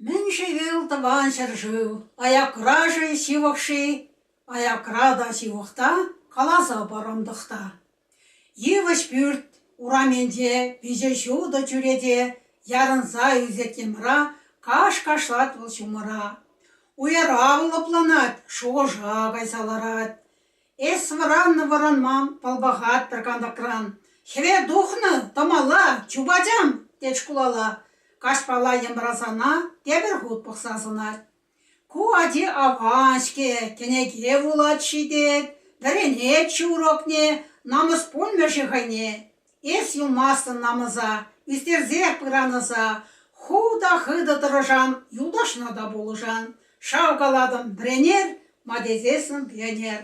Мӗн-ши вӑл Тӑван ҫӗршыв? Аякра-ши ҫывӑх-ши? Аякра та ҫывӑх та, каласа парӑм тӑхта. Йывӑҫ пӳрт урамӗнче виҫӗ ҫутӑ чӳрече ярӑнса ӳсет йӑмра, каш кашлать вӑл ҫумӑра. Уйӑра лӑпланать, шухӑша кайса ларать. Эс вӑраннӑ-вӑранман пӑлпахаттӑр кантӑкран. Хӗве тухнӑ тӑмалла, чупачам, тет шкулала. Каҫпала йӑмрасана тепӗр хут пӑхса сӑнать. Ку ачи аван-ҫке, кӗнеке вулать-ши тет, вӗренет ҫурӑкне, намӑс пулмӗ-ши хӑйне. Эс юлмастӑн намӑса, ӳстерсе пыранӑса, ху та хытӑ тӑрӑшан, юлташна та пулӑшан, шавкалатӑн вӗренер, ма тесессӗн пионер.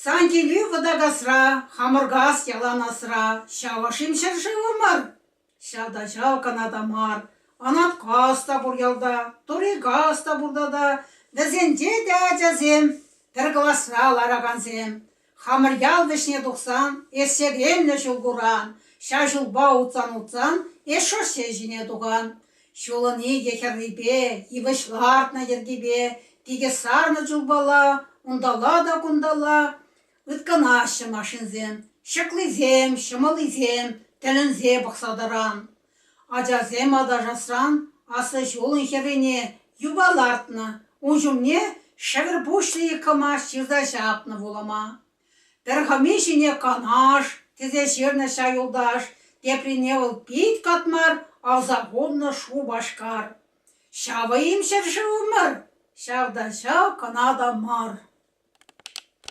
Сан килӳ вӑтакасра, хамӑркас ялан асра, ҫавӑ-шим ҫӗршывӑ мар? Ҫав та ҫав кӑна та мар, Анаткас та пур ялта, Торикас та пур тата, вӗсенче те ачасем, пӗр класра ларакансем. Хамӑр ял вӗҫне тухсан, эсерленнӗ ҫул куран, ҫав ҫулпа утсан-утсан эс шоссе ҫине тухан. Ҫулӑн икӗ хӗррипе, йывӑҫ лартнӑ йӗркипе питӗ сарнӑ чулпала, унталла та кунталла ыткӑнаҫҫӗ машинсем, ҫыклисем, ҫӑмӑллисем тӗлӗнсе пӑхса тӑран. Ачасем аташасран аслӑ ҫулӑн хӗррине юпа лартнӑ, ун ҫумне шӗкӗр пуҫлӑхӗ кӑмач ҫырса ҫапнӑ вулӑма. Пӗр хӑми ҫине канаш тесе ҫырнӑ ҫав юлташ, теприне вӑл пит катмар авса хумнӑ Шупашкар. Ҫавӑ-им ҫӗршывӑмӑр? Ҫав та ҫав кӑна та мар.